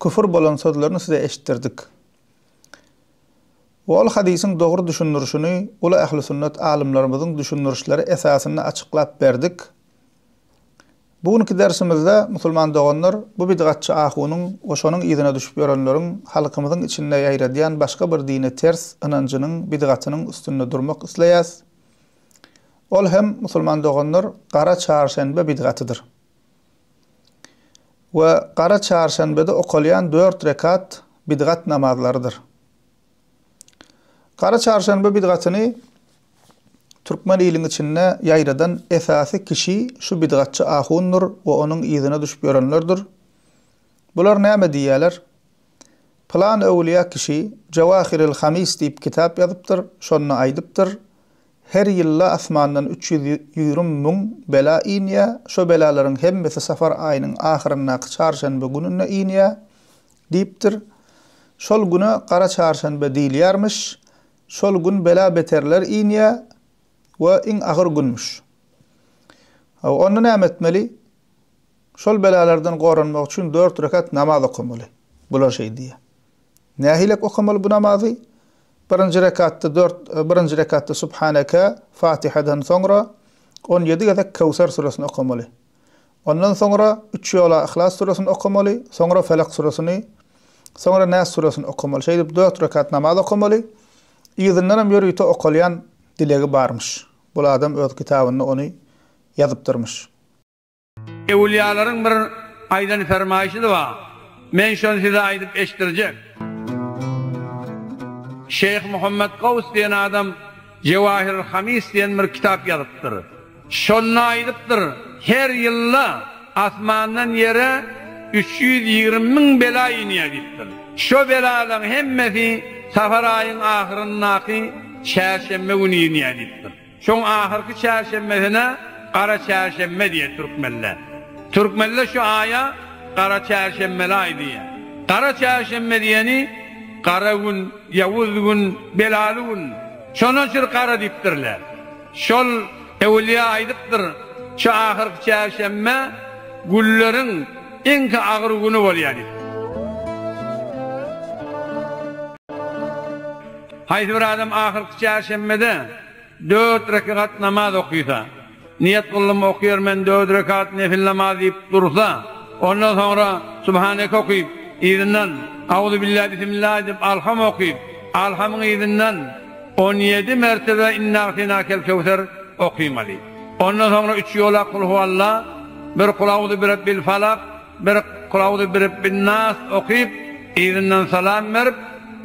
Küfür bolan sözlerini size eşitdirdik. Ol hadysyň dogry düşündirişini uly ähli sünnet alymlarymyzyň düşündirişleri esasynda açyklap berdik. Bu günki dersimizde, musulman doganlar, bu bidgatçy ahunyň we şonuň yzyna düşüp ýörenleriň halkymyzyň içinde ýaýradýan başga bir dine ters ynanjynyň bidgatynyň üstünde durmak isleýäs. Ol hem, musulman doganlar, gara çarşenbe bidgatydyr. we gara çarşenbede okalýan dört rekat bidgat namazlarydyr. Gara çarşenbe bidgatyny türkmen iliň içinde ýaýradan esasy kişi şu bidgatçy ahundyr we onuň yzyna düşüp ýörenlerdir. Bular näme diýýärler? Pylan öwülýä kişi Jawahiril Hamis diýip kitap ýazypdyr, şonda aýdypdyr, Her ýylda asmandan üç ýüz ýügrüm müň bela inýä, şo belalaryň hemmesi safar aýynyň ahyryndaky çarşenbe gününe inýä, diýipdir. Şol güne gara çarşenbe diýilýärmiş. Şol gün bela-beterler inýä we iň agyr günmüş. Hawa, onda näme etmeli? Şol belalardan goranmak üçin dört rekat namaz okamaly. Bular şeý diýýä. Nähilek okamaly bu namazy? Birinji rekatda dört, birinji rekatda Subhaneke, Fatihadan soňra, on ýedi gezek Köwser süresini okamaly. Ondan soňra üç ýola Yhlas süresini okamaly, soňra Felak süresini, soňra Näs süresini okamaly. Şeýdip dört rekat namaz okamaly. Yzyndan hem ýörite okalýan dilegi barmyş. Bul adam öz kitabynda ony ýazypdyrmyş. Ewliýalaryň bir aýdan fermaýşy-da bar. Men şony size aýdyp eşitdirjek. Şeýh Muhammet Gaws diýen adam Jewahirul Hamis diýen bir kitap ýazypdyr. Şonda aýdypdyr, Her ýylda asmandan ýere üç ýüz ýigrimi müň bela inýär diýipdir. Şo belalaryň hemmesi safar aýyň ahyryndaky çärşenbe güni inýär diýipdir. Şoň ahyrky çärşenbesine Gara çärşenbe diýer türkmenler. Türkmenler şu aýa Gara çärşenbeli aý diýer. Gara çärşenbe diýeni gara gün, ýawuz gün, belaly gün. Şonuň üçin gara diýipdirler. Şol ewliýa aýdypdyr, şu ahyrky çärşenbe günleriň iňki agyr güni bolýar diýip. Haýsy bir adam ahyrky çärşenbede dört rekegat namaz okysa, Niýet gyldym, okýarmen dört rekegat nefil namaz diýip dursa, ondan soňra Subhaneke okyp, yzyndan Auzubillah, Bismillah aýdyp, Alham okyp, Alhamyň yzyndan on ýedi mertebe Innaagteýnakelkewser okamaly. Ondan soňra üç ýolak Kulhuallah, bir Kulauzu birabbilfalak, Bir Kulawdy Birebbin-nas okyp, yzyndan salam berip,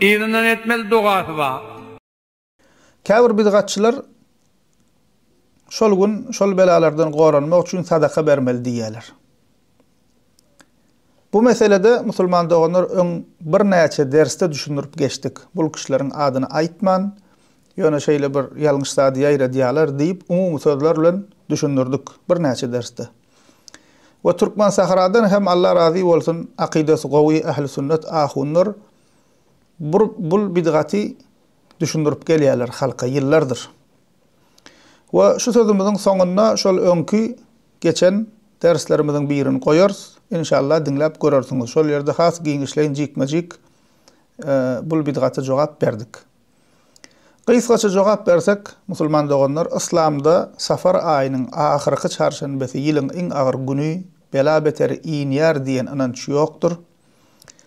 yzyndan etmeli dogasy bar. Käbir bidgatçylar şol gün şol belalardan goranmak üçin sadaka bermeli diýýärler. Bu meselede musulman doganlar öň birnäçe dersde düşündirip geçdik. Bul kişileriň adyny aýtman, ýöne şeýle bir ýalňyş zady ýaýradýarlar diýip umumy sözler bilen düşündirdik birnäçe dersde. We Türkmen Sahradan hem Alla razy bolsun akydasy gowy Ähli Sünnet ahunlar bur bul bidgaty düşündirip gelýärler halka ýyllardyr. We şu sözümiziň soňunda şol öňki geçen derslerimiziň birini goýarys inşallah diňläp görersiňiz şol ýerde has giňişleýin jikme jik bul bidgata jogap berdik. Gysgaça jogap bersek, musulman doganlar, yslamda safar aýynyň ahyrky çarşenbesi ýylyň iň agyr güni, bela beter inýär diýen ynanç ýokdur.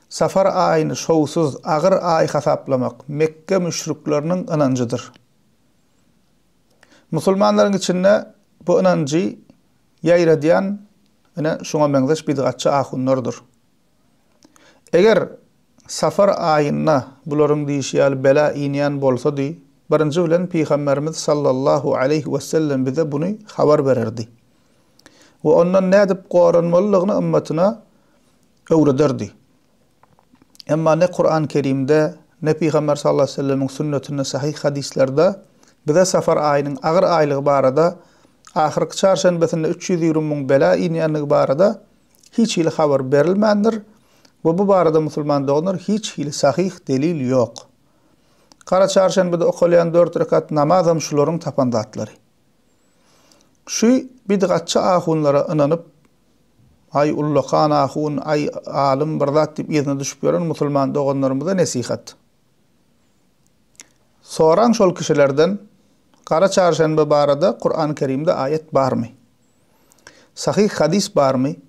Safar aýyny şowsuz, agyr aý hasaplamak Mekge müşrikleriniň ynanjydyr. Musulmanlaryň içinde bu ynanjy ýaýradýan ine şuňa meňzeş bidgatçy ahunlardyr. Eger Safar aýynda bularyň diýşi ýaly bela inýän bolsady, birinji bilen Pygamberimiz sallallahu aleýhi wesellem bize buny habar bererdi we ondan nädip goranmalydygyny ymmatyna öwrederdi. Emma ne Kuran Kerimde, ne Pygamber sallallahu aleýhi wesellemiň sünnetinde sahyh hadyslerde bize safar aýynyň agyr aýlygy barada, ahyrky çarşenbesinde üç ýüz ýigrimi müň bela inýändigi barada Hiç hili habar berilmändir we bu barada musulman doganlar hiç hili sahyh delil ýok. Gara çarşenbede okalýan dört rekat namazam şularyň tapan zatlary. Şu bidgatçy ahunlara ynanyp aý ullakan ahun aý alym bir zat diýip yzyna düşüp ýören musulman doganlarymyza nesihat. Soraň şol kişilerden gara çarşenbe barada Kurany kerimde aýat barmy. Sahyh hadys barmy?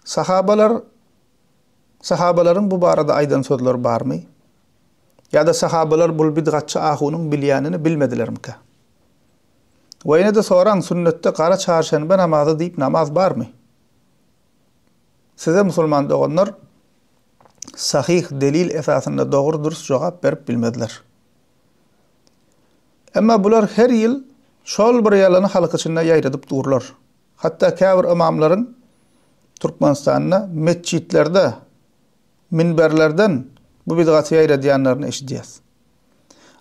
Sahabalar sahabalaryň bu barada aýdan sözleri barmy? Ýa-da sahabalar bul bidgatçy ahunyň bilýänini bilmedilermikä? We ýene-de soraň, sünnetde gara çarşenbe namazy diýip namaz barmy? Size musulman doganlar sahyh delil esasynda dogry-dürs jogap berip bilmezler. Emma bular her ýyl şol bir ýalany halk içinde ýaýradyp durlar. Hatda käbir ymamlaryň Türkmenistanda metjitlerde, minberlerden bu bidgaty ýaýradýanlaryny eşidýäs.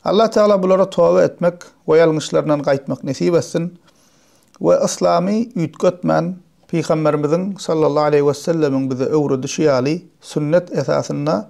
Allah Tagala bulara toba etmek we ýalňyşlaryndan gaýtmak nesip etsin we yslamy üýtgetmän Pygamberimiziň sallallahu aleýhi wesellemiň bize öwredişi ýaly sünnet esasynda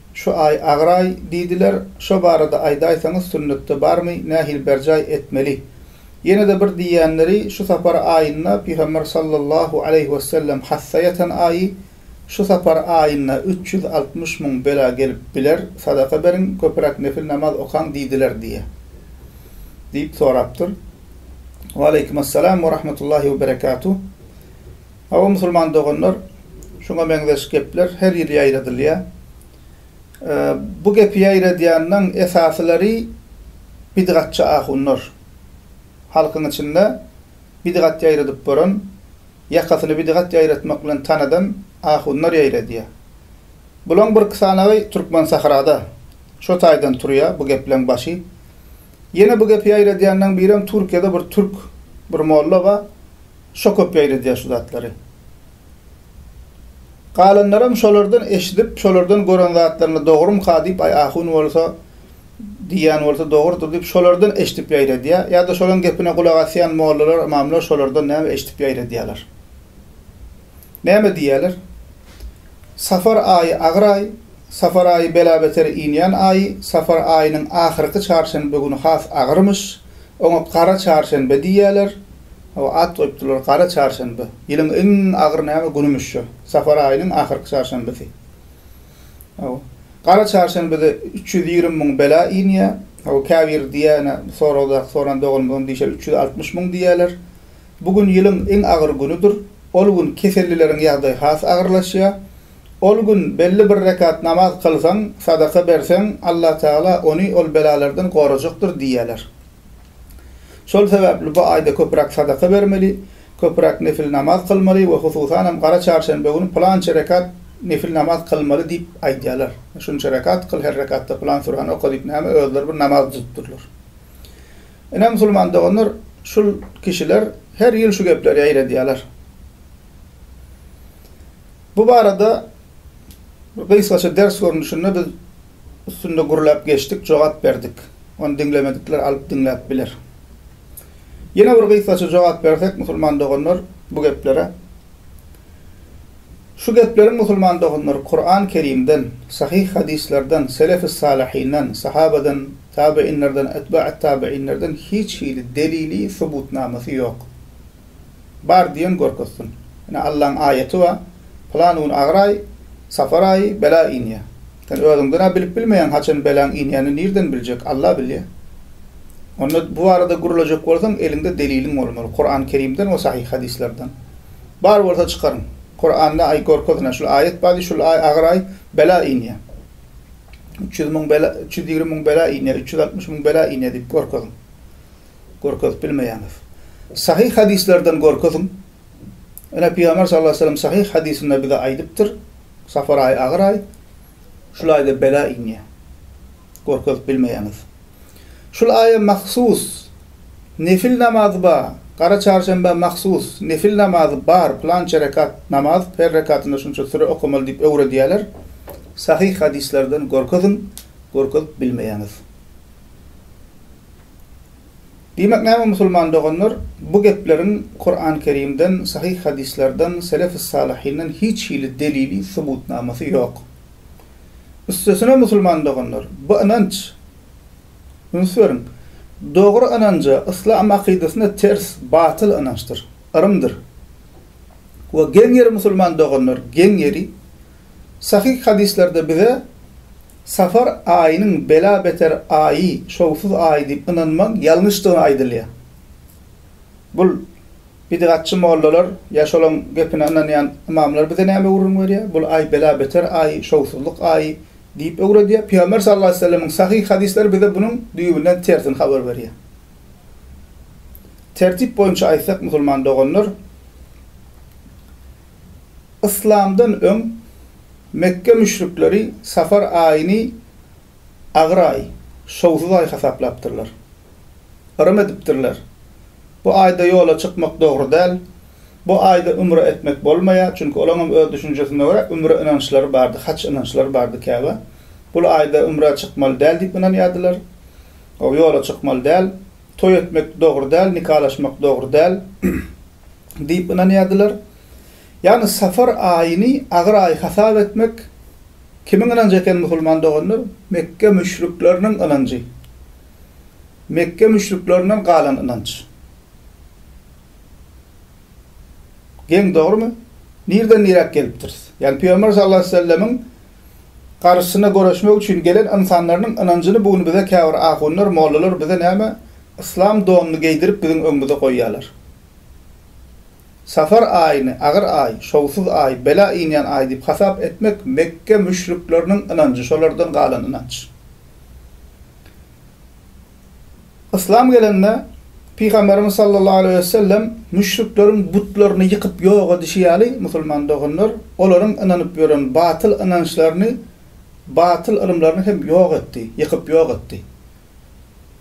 Şu aý agyraý diýdiler, şo barada aýdaýsaňyz sünnetde barmy, nähili berjaý etmeli? Ýene-de bir diýýänleri, şu sapar aýynda Pygamber sallallahu aleýhi wesellem hassa ýatan aýy, şu sapar aýynda üç ýüz altmyş müň bela gelip biler, sadaka beriň, köpüräk nefil namaz okaň diýdiler diýýä. Diýip sorapdyr. Waleýkimessalam we rahmetullahi we berekatuh. Hawa musulman doganlar, şuňa meňzeş gepler her ýyl ýaýradylýar. Bu gepi ýaýradýanlaň esasylary bidgatçy ahunlar. Halkyň içinde bidgat ýaýradyp boran, ýakasyny bidgat ýaýratmak bilen tanadan ahunlar ýaýradýar. Bulaň birki sanagy türkmen sahrada. Şo taýdan turýar bu gepleň başy. Ýene bu gepi ýaýradýanlaň birem Türkiýede bir türk bir molla bar. Şo köp ýaýradýar şu zatlary. Galanlaram şolardan eşidip, şolardan gören zatlaryny dogrumyka diýip, aý ahun bolsa, diýýän bolsa dogrudyr diýip, şolardan eşidip ýaýradýar. Ýa-da şolaň gepine gulak asýan mollalar, ymamlar şolardan näme eşidip ýaýradýarlar. Näme diýýärler? Safar aýy agyr aý, Safar aýy bela-beter inýän aýy, Safar aýynyň ahyrky çarşenbe güni has agyrmyş. Oňa gara çarşenbe diýýärler. Hawa, at goýupdyrlar gara çarşenbe. Ýylyň iň agyr näme günümüş şo, Safar aýynyň ahyrky çarşenbesi. Hawa. Gara çarşenbede üç ýüz ýigrimi müň bela inýär. Hawa, käbir diýýär, ine, soragdaky soran doganymyz ony diýşer, üç ýüz altmyş müň diýýärler. Bu gün ýylyň iň agyr günüdir. Ol gün kesellileriň ýagdaýy has agyrlaşýar. Ol gün belli bir rekat namaz kylsaň, sadaka berseň, Allatagala ony ol belalardan gorajakdyr diýýärler. Şol sebäpli bu aýda köpräk sadaka bermeli, köpräk nefil namaz kylmaly we hususanam gara çarşenbe güni pylança rekat nefil namaz kylmaly diýip aýdýarlar. Şunça rekat kyl, her rekatda pylan sürany oka diýip näme özleri bir namaz düzüpdirler. Ine, musulman doganlar, şul kişiler her ýyl şu gepleri ýaýradýarlar. Bu barada bir gysgaça ders görnüşinde biz üstünde gürläp geçdik, jogap berdik. Ony diňlemedikler alyp diňläp biler. Ýene bir gysgaça jogap bersek, musulman doganlar, bu geplere. Şu gepleriň, musulman doganlar, Kuran-Kerimden, sahyh hadyslardan, selef-i-salyhinden, sahabadan Tabeinlerden, etbaet tabeinlerden hiç hili delili, subutnamasy ýok. Bar diýen görkezsin. Ine Allaň aýaty bar, pylan gün agyr aý, safar aýy, bela inýär. Sen özüňden-ä bilip bilmeýäň haçan belaň inýänini nirden biljek, Alla bilýär. Onda bu barada gürlejek bolsaň eliňde deliliň bolmaly, Kuran Kerimden we sahyh hadyslardan. Bar bolsa çykaryň. Kuranda aý görkezin, şul aýat bar diý, şul aý agyr aý, bela inýär. Üç ýüz müň bela, üç ýüz ýigrimi müň bela inýär, üç ýüz altmyş müň bela inýär diýip görkeziň. Görkezip bilmeýäňiz. Sahyh hadyslardan görkeziň. Ine, Pygamber sallallahu aleyhi ve sellem sahyh hadysynda bize aýdypdyr, Safar aýy agyr aý, şul aýda bela inýär. Görkezip bilmeýäňiz. Şul aýa mahsus Nefil namazy ba, Gara çarşenbä mahsus Nefil namazy bar, pylança rekat namaz, her rekatynda şunça süre okamaly diýip öwredýäler. Sahyh hadyslardan görkeziň, görkezip bilmeýäňiz. Diýmek näme musulman doganlar, bu gepleriň Kuran Kerimden, sahyh hadyslardan, selef-i salyhinden hiç hili delili, subutnamasy ýok. Üstesine musulman doganlar, bu ynanç, üns beriň, dogry ynanja, yslam akydasyna ters, batyl ynançdyr, yrymdyr. We geň ýeri musulman doganlar, geň ýeri, sahyh hadyslerde bize Safar aýynyň bela beter aýy, şowsuz aýy diýip ynanmaň, ýalňyşdygy aýdylýar. Bul. Bidgatçy mollalar ýa şolaň gepine ynanýan ymamlar bize näme gürrüň berýär? Bul aý bela-beter aý, şowsuzlyk aýy diýip öwredýär. Pygamber sallallahu aleýhi we sellemiň sahyh hadyslary bize bunuň düýbünden tersini habar berýär. Tertip boýunça aýtsak, musulman doganlar, yslamdan öň Mekge müşrikleri safar aýyny agyr aý, şowsuz aý hasaplapdyrlar. Yrym edipdirler. Bu aýda ýola çykmak dogry däl. Bu aýda ümre etmek bolmaýar, çünki olaňam öz düşünjesine görä ümre ynançlary bardy, haç ynançlary bardy käbä. Bul aýda ümrä çykmaly däl diýip ynanýardylar. O ýola çykmaly däl. Toý etmek dogry däl, nikalaşmak dogry däl diýip ynanýardylar. Ýagny safar aýyny agyr aý hasap etmek kimiň ynanjy eken musulman doganlar? Mekge müşrikleriniň ynanjy. Mekge müşriklerinden galan ynanç. Geň dogrumy? Nirden niräk gelipdiris? Ýagny Pygamber sallallahu aleýhi we sellemiň garşysyna göreşmek üçin gelen ynsanlarynyň ynanjyny bu gün bize käbir ahunlar, mollalar bize näme yslam donuny geýdirip biziň öňümize goýýarlar. Safar aýyny agyr aý, şowsuz aý, bela inýän aý diýip hasap etmek Mekge müşrikleriniň ynanjy, şolardan galan ynanç. Yslam gelende Pygamberimiz sallallahu aleýhi we sellem müşrikleriň butlaryny ýykyp ýok edişi ýaly musulman doganlar olaryň ynanyp ýören batyl ynançlaryny batyl ylymlaryny hem ýok etdi, ýykyp ýok etdi.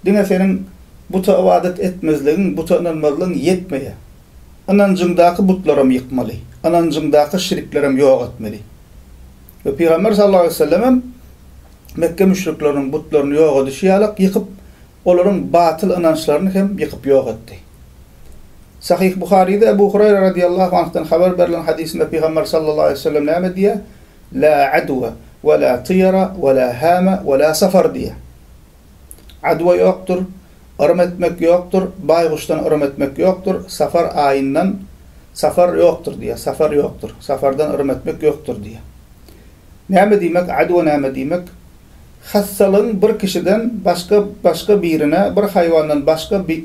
Diňe seniň buta ybadat etmezligiň, buta ynanmazlygyň ýetmeýär. Ynanjyňdaky butlaram ýykmaly, ynanjyňdaky şiriklerem ýok etmeli. We Pygamber sallallahu aleýhi we sellemem Mekge müşrikleriniň butlaryny ýok edişi ýalak ýykyp, olaryň batyl ynançlaryny hem ýykyp ýok etdi. Sahyh Buharyda Ebu Hureýre radyýallahu anhdan habar berlen hadysynda Pygamber sallallahu aleýhi we sellem näme diýýär? La adwa we la tyýara we la hama we la safar diýýär. Adwa ýokdur, yrym etmek ýokdur, baýguşdan yrym etmek ýokdur, safar aýyndan safar ýokdur diýýär, safar ýokdur, safardan yrym etmek ýokdur diýýär. Näme diýmek adwa näme diýmek? Hassalygyň bir kişiden başga başga birine bir haýwandan başga bir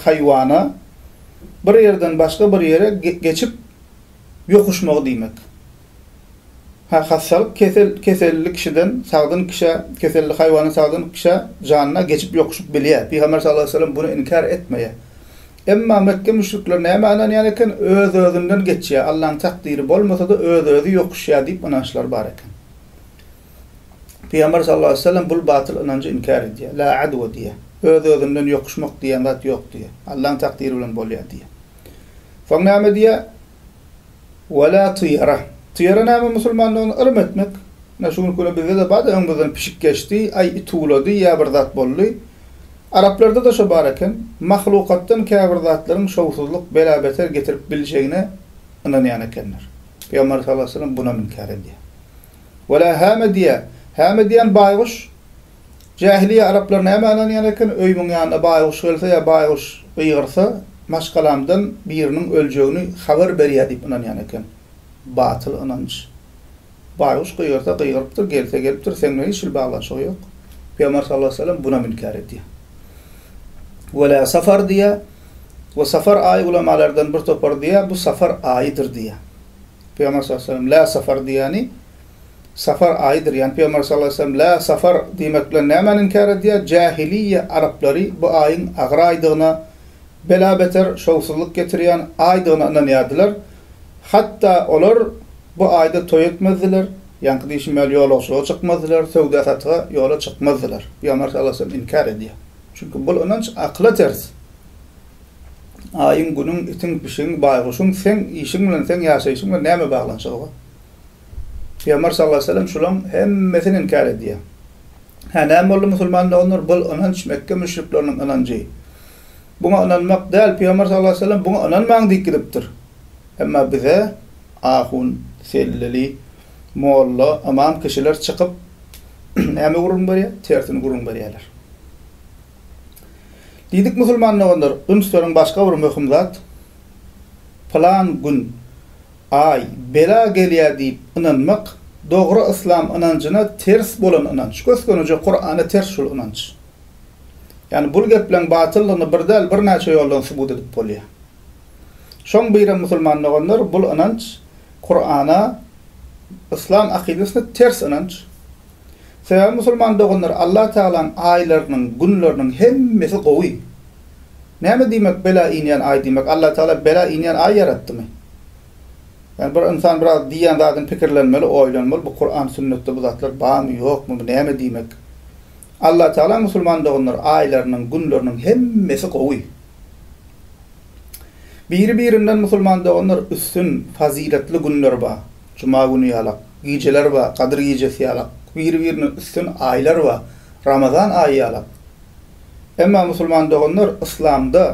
haýwana bir ýerden başga bir ýere geçip ýokuşmagy diýmek. Ha hassalyk kesel keselli kişiden sagdyn kişä keselli haýwandan sagdyn kişä janyna geçip ýokuşyp bilýär. Pygamber sallallahu aleýhi we sellem bunu inkär etmeýär. Emma Mekge müşrikleri nämä ynanýan eken? Öz-özünden geçýär, Allaň takdyry bolmasa-da, öz-özi ýokuşýar diýip ynançlary bar eken. Pygamber sallallahu aleýhi we sellem bul batyl ynanjy inkär edýär. La adwa diýýär. Öz-özünden ýokuşmak diýen zat ýok diýýär. Allaň takdyry bilen bolýar diýýär. Soň näme diýýär? Wala tyýara. Tyýara näme musulmandygyny ylym etmek. Ine şu günki günde bizde-de bar-da öňümizden pişik geçdi, aý it uwlady ýa bir zat boldy. Araplarda-da şo bar eken. Mahlukatdan käbir zatlaryň şowsuzlyk, bela-beter getirip biljegine ynanýan ekenler. Pygamberimiz sallallahu aleýhi we sellem bunam inkär edýär. Wala hama diýar. Hama diýen baýguş. Jähiliýe araplar näme ynanýan eken, öýümiň ýanyna baýguş gelse ýa baýguş gygyrsa, maşgalamdan biriniň öljegini habar berýär diýip ynanýan eken. Batyl ynanç. Baýguş gygyrsa gygyrypdyr, gelse gelipdir, seň bilen hiç hili baglanyşygy ýok. Pygamber sallallahu aleýhi we sellem bunam inkär edýär. Welä safar diýýär. We safar aýy ulamalardan bir topar diýýär, bu safar aýydyr diýýär. Pygamber sallallahu aleýhi we sellem lä safar diýýäni, Safar aýydyr. Ýani Pygamber sallallahu aleýhi we sellem Lä safar diýmek bilen nämäni inkär edýär? Jähiliýýe araplary bu aýyň agyr aýdygyna, bela-beter, şowsuzlyk getirýän aýdygyna ynanýardylar. Hatda olar bu aýda toý etmezdiler, ýaňky diýşim ýaly ýolagçylyga çykmazdylar, söwda-satyga ýola çykmazdylar. Pygamber sallallahu aleýhi we sellem inkär edýär. Çünki bul ynanç akyla ters. Aýyň, Günüň, itiň, pişigiň, baýguşyň seň işiň bilen, seň ýaşaýşyň bilen näme baglanyşygy bar? Pygamber sallallahu aleýhi we sellem şulaň hemmesini inkär edýär. Hä, näme boldy musulman doganlar, bul ynanç Mekge müşrikleriniň ynanjy. Buňa ynanmak däl, Pygamber sallallahu aleýhi we sellem buňa ynanmaň diýip gidipdir. Emma bize ahun, selleli, molla, ymam kişiler çykyp näme gürrüň berýär? Tersini gürrüň berýärler. Diýdik musulman doganlar, üns beriň başga bir möhüm zat, pylan gün Aý, bela gelýär diýip ynanmak, dogry yslam ynanjyna ters bolan ynanç, gös-göni-je Kurana ters şul ynanç. Ýani bul gepleň batyllygyny bir däl birnäçe ýoldan subut edip bolýar. Şoň birem musulman doganlar bul ynanç Kurana, yslam akydasyna ters ynanç. Sebäbi musulman doganlar Allah Tagalaň aýlarynyň, günleriniň hemmesi gowy. Näme diýmek bela inýän aý diýmek? Allah Tagala bela inýän aý ýaratdymy? Ýani bir ynsan biraz diýýän zadyny pikirlenmeli, oýlanmaly, bu Kuran, Sünnetde bu zatlar barmy, ýokmy, bu näme diýmek? Allah Tagala musulman doganlar aýlarynyň, günleriniň hemmesi gowy. Biri birinden musulman doganlar üstün, fazyletli günler bar. Juma güni ýalak. Gijeler bar, Gadyr gijesi ýalak, biri-birine üstün aýlar bar, Ramazan aýy ýalak. Emma musulman doganlar, yslamda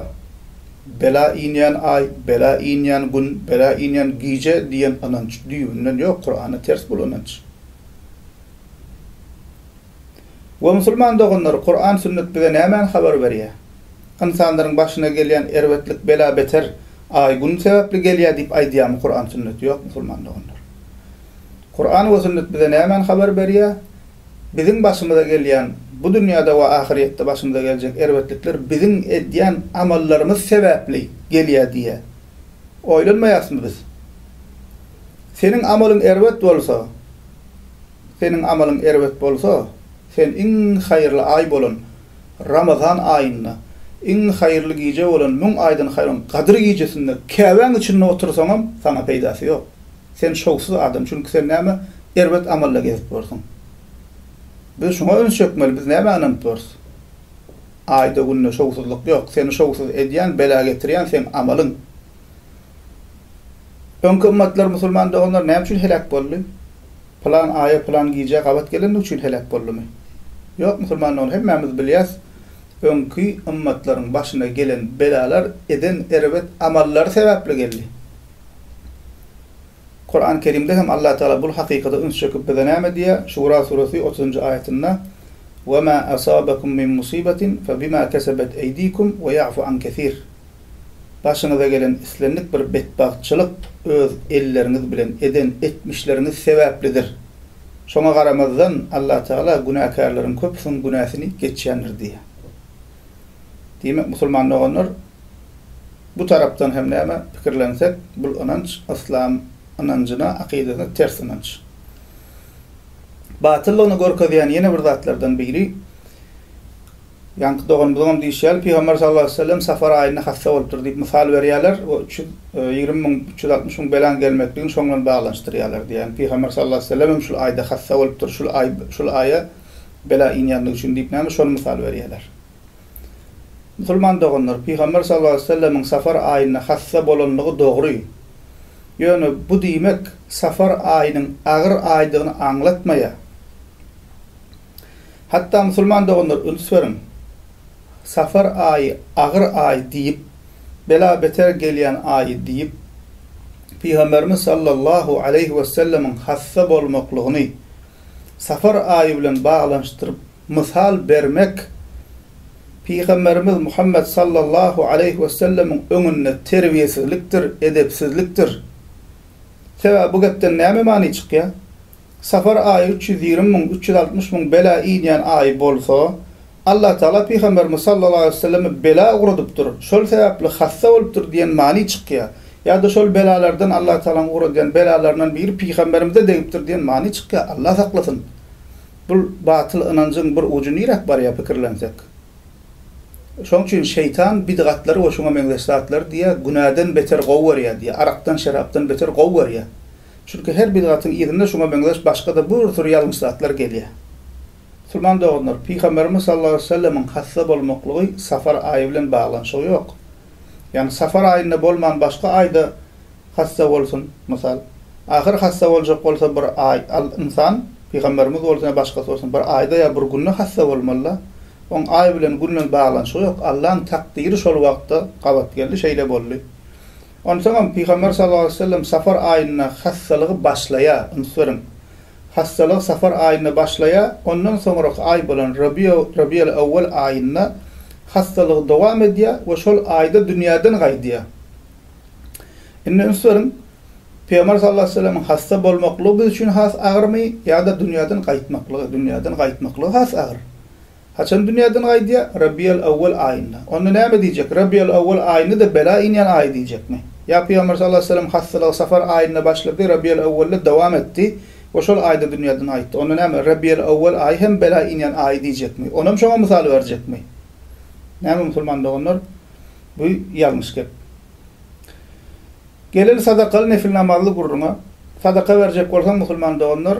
Bela inýän aý, bela inýän gün, bela inýän gije diýen ynanç düýbünden ýok, Kurana ters bul ynanç. We musulman doganlar Kuran sünnet bize nämäni habar berýär? Ynsanlaryň başyna gelýän erbetlik bela beter Aý Gün sebäpli gelýär diýip aýdýarmy Kuran sünnet? Ýok musulman doganlar. Kuran we sünnet bize nämäni habar berýär? Biziň başymyza gelýän bu dünýäde we ahyrýetde başymyza geljek erbetlikler biziň edýän amallarymyz sebäpli gelýär diýe oýlanmaýasmy biz? Seniň amalyň erbet bolsa Seniň amalyň erbet bolsa, sen iň haýyrly aý bolan Ramazan aýynda, iň haýyrly gije bolan müň aýdan haýryň Gadyr gijesinde Käbäň içinde otursaňam, saňa peýdasy ýok. Sen şowsuz adam, çünki sen näme erbet amalla gezip borsuň. Biz şuňa üns çekmeli, biz nämä ynanyp borus? Aýda-günde şowsuzlyk ýok. Seni şowsuz edýän, bela getirýän seň amalyň. Öňki ymmatlar, musulman doganlar näme üçin heläk boldy? Pylan aýa, pylan gijä gabat gelendigi üçin heläk boldumy? Ýok, musulman dogan, hemmämiz bilýäs, öňki ymmatlaryň başyna gelen belalar eden erbet amallary sebäpli geldi. Kurany Kerimde hem Allatagala bul hakykata üns çekip bize näme diýýär? Şura suresi otuzynjy aýatynda, Wema asabakum min musibatin fe bima kesebet eydikum we ya'fu an kesir. Başyňyza gelen islendik bir betbagtçylyk öz elleriňiz bilen eden etmişleriňiz sebäplidir. Şoňa garamazdan, Allatagala günäkärleriň köpüsiň günäsini geçýändir diýýär. Diýmek, musulman doganlar, bu tarapdan hem näme pikirlensek, bul ynanç yslam ynanjyna, akydasyna ters ynanç. Batyllygyny görkezýän ýene bir zatlardan biri, Ýaňky doganymyzyňam diýşi ýaly, Pygamber sallallahu aleýhi we sellem safar aýynda hassa bolupdyr diýip mysal berýärler we üç ýüz ýigrimi müň, üç ýüz altmyş müň belaň gelmekligini şoň bilen baglanyşdyrýarlar diýip, ýagny Pygamber sallallahu aleýhi we sellem hem şul aýda hassa bolupdyr, şul aý, şul aýa bela inýänligi üçin diýip näme şony mysal berýärler. Musulman doganlar, Pygamber sallallahu aleýhi we sellemiň safar aýynda hassa bolanlygy dogry. Ýöne bu diýmek safar aýynyň agyr aýdygyny aňlatmaýar. Hatda musulman doganlar üns beriň, Safar aýy agyr aý diýip, bela beter gelýän aýy diýip, Pygamberimiz sallallahu aleýhi wesellemiň hassa bolmaklygyny Safar aýy bilen baglanyşdyryp mysal bermek Pygamberimiz Muhammet sallallahu aleýhi wesellemiň öňünde terbiýesizlikdir, edepsizlikdir. Sebäbi bu gepden näme many çykýar? Safar aýy üç ýüz ýigrimi müň, üç ýüz altmyş müň bela inýän aý bolsa, Allatagala pygamberimiz sallallahu aleýhi wesellemi bela ugradypdyr, şol sebäpli hassa bolupdyr diýen many çykýar. Ýa-da şol belalardan Allatagalaň ugradýan belalaryndan biri pygamberimize degipdir diýen many çykýar. Allah saklasyn! Bu batyl ynanjyň bir ujy niräk barýar pikirlensek? Şoň üçin şeýtan bidgatlary we şuňa meňzeş zatlary diýýär, günäden beter gowy görýär diýýär, arakdan, şerapdan beter gowy görýär. Çünki her bidgatyň yzynda şuňa meňzeş başga-da bir sürü ýalňyş zatlar gelýär. Musulman doganlar, Pygamberimiz sallallahu aleýhi we sellemiň hassa bolmaklygy safar aýy bilen baglanyşygy ýok. Ýagny safar aýynda bolman başga aýda hassa bolsun, mysal, ahyr hassa boljak bolsa bir aý, al, ynsan, Pygamberimiz bolsun ýa başgasy bolsun bir aýda ýa bir günde hassa bolmaly-da. Oň aý bilen, gün bilen baglanyşygy ýok. Allaň takdyry şol wagtda gabat geldi, şeýle boldy. Onsoňam Pygamber sallallahu aleýhi we sellem safar aýynda hassalygy başlaýar, üns beriň. Hassalygy safar aýynda başlaýar, ondan soňraky aý bolan Rabiýa, Rabiýal owwal aýynda hassalygy dowam edýär we şol aýda dünýäden gaýdýar. Indi üns beriň, Pygamber sallallahu aleýhi we sellemiň hassa bolmaklygy biz üçin has agyrmy ýa-da dünýäden gaýtmaklygy? Dünýäden gaýtmaklygy has agyr. Haçan dünýäden gaýdýar? Rabiýal-awwal aýynda. Onda näme diýjek? Rabiýal-awwal aýyny-da bela inýän aýy diýjekmi? Ýa Pygamber sallallahu aleýhi we sellem hassalygy safar aýynda başlady, Rabiýal-awwalda dowam etdi we şol aýda dünýäden gaýtdy. Onda näme? Rabiýal-awwal aýy hem bela inýän aýy diýjekmi? Onam şoňa mysal berjekmi? Näme musulman doganlar? Bu ýalňyş gep. Geleli sadakaly nefil namazly gürrüňe. Sadaka berjek bolsaň musulman doganlar,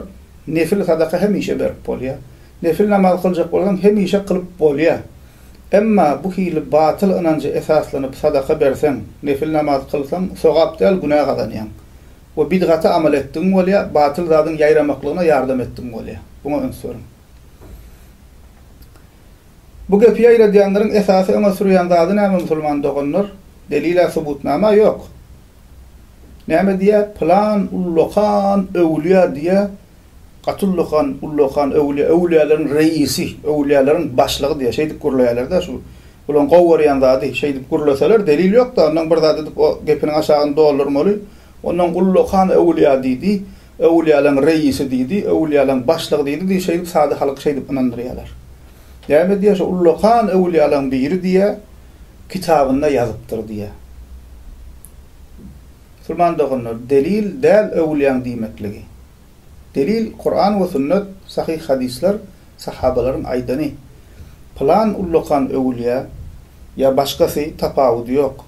nefil sadaka hemişe berip bolýar. Nefil namazy kyljak bolsaň, hemişe kylyp bolýar. Emma bu hili batyl ynanja esaslanyp sadaka berseň, nefil namazy kylsaň, sogap däl, günä gazanýaň. We bidgaty amal etdigiň bolýar, batyl zadyň ýaýramaklygyna ýardam etdigiň bolýar. Buňa üns beriň. Bu gepi ýaýradýanlaryň esasy öňe sürýän zady näme musulman doganlar? Delil-ä subutnama ýok. Näme diýýär, pylan ullakan öwülýä diýýär, Gaty ullakan, ullakan öwlýä, öwlýäleriň reisi, öwlýäleriň başlygy diýýär. Şeýdip gürleýärler-de şu. Bularyň gowy görýän zady, şeýdip gürleseler, delil ýok-da, onnoň bir zat edip o gepiniň aşagyny doldurmaly. Onnoň ullakan öwlýä diýdi, öwlýäleriň reisi diýdi, öwlýäleriň başlygy diýdi diýip şeýdip sada halky şeýdip ynandyrýarlar. Näme diýýär şu ullakan öwlýäleriň biri diýýär, kitabynda ýazypdyr diýýär. Musulman doganlar, delil däl öwlýäň diýmekligi. Delil, Kuran we sünnet, sahyh hadyslar, sahabalaryň aýdany. Pylan ullakan öwülýä ýa başgasy tapawudy ýok.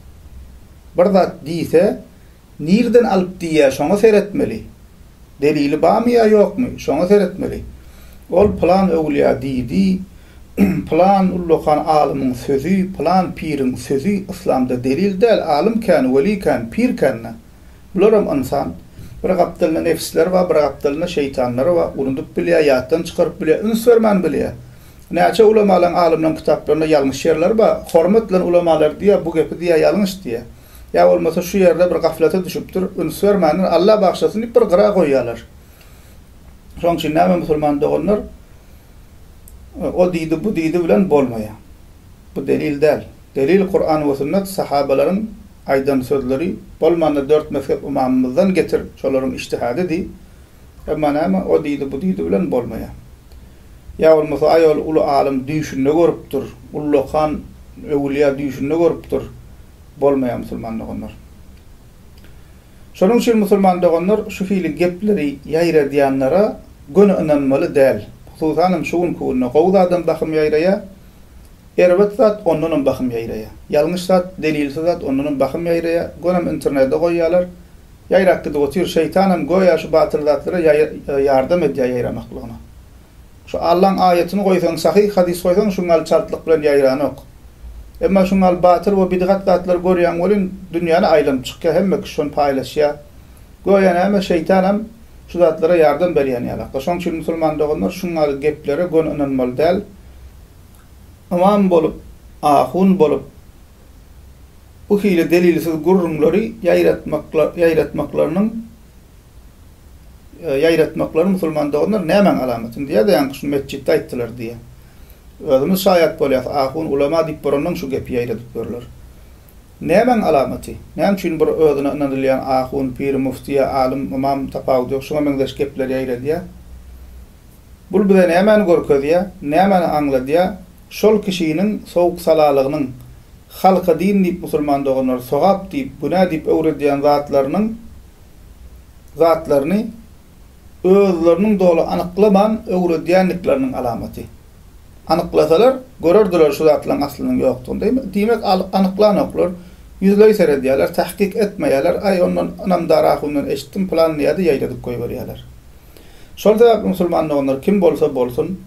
Bir zat diýse, nirden alyp diýýä şoňa seretmeli. Delili bamy ýa ýokmy, şoňa seretmeli. Ol pylan öwülýä diýdi, pylan ullakan alymyň sözi, pylan piriň sözi yslamda delil däl, alym kän, weli kän, pir känna. Bularam ynsan. Bir gapdalynda nebisler bar, bir gapdalynda şeýtanlar bar. Unudyp bilýär, ýatdan çykaryp bilýär, üns bermän bilýär. Näçe ulamalaň, alymlaň kitaplarynda ýalňyş ýerler bar. Hormat bilen ulamalar diýýär, bu gepi diýýär ýalňyş diýýär. Ýa bolmasa şu ýerde bir gaflata düşüpdir, üns bermändir, Alla bagyşlasyn diýip bir gyra goýýarlar. Şoň üçin näme musulman doganlar, o diýdi, bu diýdi bilen bolmaýar. Bu delil däl. Delil Kuran we Sünnet Sahabalaryň aýdan sözleri bolmanda dört mezhep ymamymyzdan getir şolaryň iştihady diý emma näme o diýdi bu diýdi bilen bolmaýar ýa bolmasa aý ol uly alym düýşünde görüpdir ullakan öwülýa düýşünde görüpdir bolmaýar musulman doganlar şonuň üçin musulman doganlar şu hili gepleri ýaýradýanlara göni ynanmaly däl hususanam şu günki günde gowy zadam bahym ýaýraýar Erbet zat ondanam bahym ýaýraýa. Ýalňyş zat, delilsiz zat ondanam bahym ýaýraýa. Gönem internede goýýalar. Ýaýrap gidip otyr. Şeýtanam göýä şu batyl zatlara ýardam edýä ýaýramaklygyna. Şu Allaň aýatyny goýsaň, sahyh hadys goýsaň şu ňal çaltlyk bilen ýaýranok. Emma şu ňal batyl we bidgat zatlary görýän welin dünýäni aýlanyp çykýa hemme kişi şony paýlaşýa. Göýä näme şeýtanam şu zatlara ýardam berýän ýalakda. Şoň üçin musulman doganlar şu ňal geplere göni ynanmaly däl. ymam bolup, ahun bolup, bu hili delilsiz gürrüňleri ýaýratmaklarynyň ýaýratmaklary musulman doganlar nämäň alamaty? Indi ýa-da ýaňky şu metjitde aýtdylar diýe. Özümiz şaýat bolýas, ahun, ulama diýip borandan şu gepi ýaýradyp ýörler. Nämäň alamaty? Näme üçin bir özüne ynanylýan ahun, pir, müfti ýa alym, ymam, tapawudy ýok, şuňa meňzeş gepleri ýaýradýa? Bul bize nämäni görkezýär, nämäni aňladýar, şol kişiniň sowuk-salalygynyň, halka din diýip musulman doganlary sogap diýip, günä diýip öwredýän zatlarynyň zatlaryny özleriniň doly anyklaman öwredýändikleriniň alamaty. Anyklasalar, görerdiler şu zatlaryň aslynyň ýokdugyny. Diýmek, anyklanoklar, ýüzleý seredýärler, tahkyk etmeýärler, aý ondan ynamdar ahundan eşitdim, pylan diýýär-de ýaýradyp goýberýärler. Şol sebäpli musulman doganlar kim bolsa bolsun,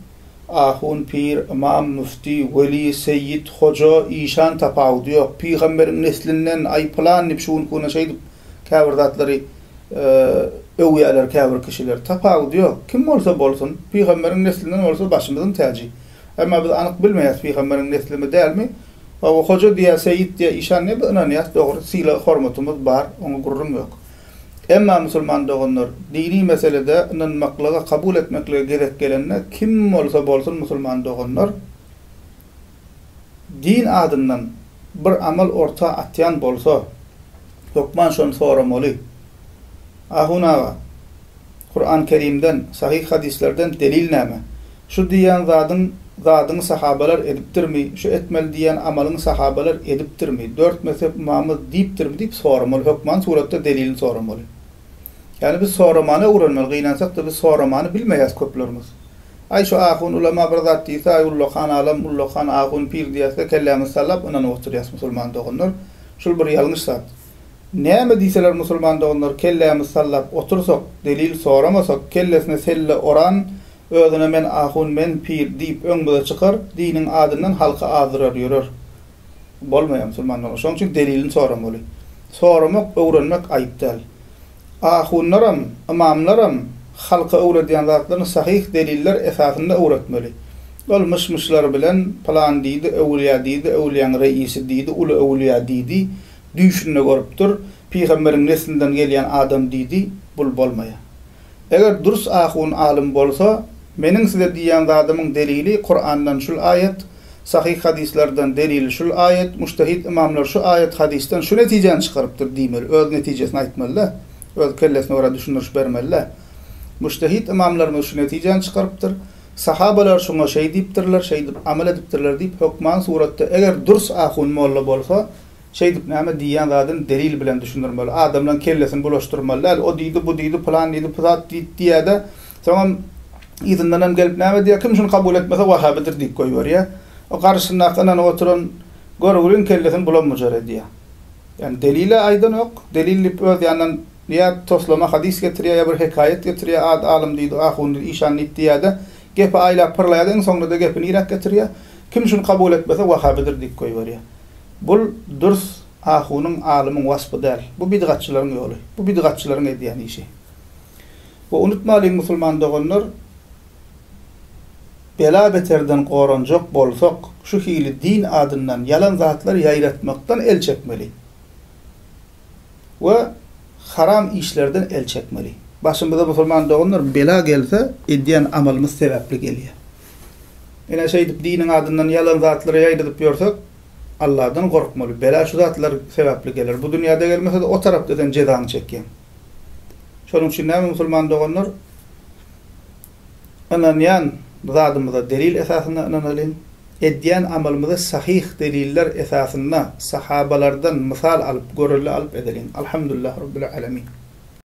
ahun, pir, ymam, müfti, weli, seýit, hoja, işan tapawudy ýok, pygamberiň neslinden, aý pylan diýip şu günki güne şeýdip käbir zatlary öwýärler käbir kişiler. Tapawudy ýok. Kim bolsa bolsun, pygamberiň neslinden bolsa başymyzyň täji. Emma biz anyk bilmeýäs pygamberiň neslimi dälmi? Hawa hoja diýýä, seýit diýýä, işan diýýä biz ynanýas dogry, sylag-hormatymyz bar, oňa gürrüň ýok. Emma musulman doganlar, dini meselede ynanmaklyga, kabul etmeklige gezek gelende, kim bolsa bolsun musulman doganlar, din adyndan bir amal orta atýan bolsa, hökman şony soramaly. Ahun aga! Kuran Kerimden, sahyh hadyslerden delil näme? Şu diýýän zadyň zadyň sahabalar edipdirmi, şu etmeli diýýän amalyň sahabalar edipdirmi, dört mezhep ymamy diýipdirmi diýip soramaly, hökman suratda delilini soramaly. Ýagny biz soramany öwrenmeli, gynansakda biz soramany bilmeýäs köplerimiz. Aý şu ahun ulama bir zat diýse, aý ullakan alym, ullakan ahun pir diýäsde kellämizi sallap ynanyp oturýas musulman doganlar, şul bir ýalňyş zat. Näme diýseler musulman doganlar kellämiz sallap otursak, delil soramasak, kellesine selle oran özüne men ahun men pir diýip öňmüze çykar, diniň adyndan halky azdyrar ýörer. Bolmaýar musulman dogan. Şoň üçin delilini soramaly. Soramak, öwrenmek aýyp däl. Ahunlaram, ymamlaram halka öwredýän zatlaryny sahyh deliller esasynda öwretmeli. Ol myş-myşlar bilen pylan diýdi, öwülýä diýdi, öwülýäň reisi diýdi, uly öwülýä diýdi, Düýşünde görüpdir, pygamberiň neslinden gelýän adam diýdi, bul bolmaýa. Eger dürs ahun alym bolsa, meniň size diýýän zadymyň delili Kurandan şul aýat, sahyh hadyslardan delili şul aýat, mujtehid ymamlar şu aýat hadysdan şu netijäni çykarypdyr diýmeli, öz netijesini aýtmalyda, öz kellesine görä düşündiriş bermelida. Mujtehid ymamlarymyz şu netijäni çykarypdyr, sahabalar şuňa şeý diýipdirler, şeýdip amal edipdirler diýip hökman suratda eger dürs ahun molla bolsa, Şeýdip näme diýýän zadyn delil bilen düşündirmeli. Adamlaň kellesini bulaşdyrmaly däl. O diýdi, bu diýdi, pylan diýdi, pyzat diýdi diýýä-de, soňam yzyndanam gelip näme diýýär, kim şuny kabul etmese wahabydyr diýip goýberýär. O garşysyndaky ynanyp oturan göroglyň kellesini bulam-bujar edýär. Ýagny delil-ä aýdanok. Delil diýip öz ýanyndan ýa toslama hadys getirýär, ýa bir hekaýat getirýär, ad alym diýdi, ahundy, işan diýip diýýär-de, gepi aýlap-pyrlaýar-da, iň soňunda-da gepi niräk getirýär, kim şuny kabul etmese wahabydyr diýip goýberýär. Bul dürs ahunyň, alymyň waspy däl. Bu bidgatçylaryň ýoly. Bu bidgatçylaryň edýän işi. We unutmalyň musulman doganlar, bela beterden goranjak bolsak, şu hili din adyndan ýalan zatlar ýaýratmakdan el çekmeli. We haram işlerden el çekmeli. Başymyza musulman doganlar bela gelse edýän amalymyz sebäpli gelýär. Ine, şeýdip diniň adyndan ýalan zatlary ýaýradyp ýörsek, Alladan gorkmaly. Bela şu zatlar sebäpli geler. Bu dünýäde gelmese-de, o tarapda sen jezaňy çekýäň. Şonuň üçin näme musulman doganlar? Ynanýan zadymyza delil esasynda ynanalyň. Edýän amalymyzy sahyh deliller esasynda, sahabalardan mysal alyp, görelde alyp edeliň. Alhamdulillah Rabbil Alemin.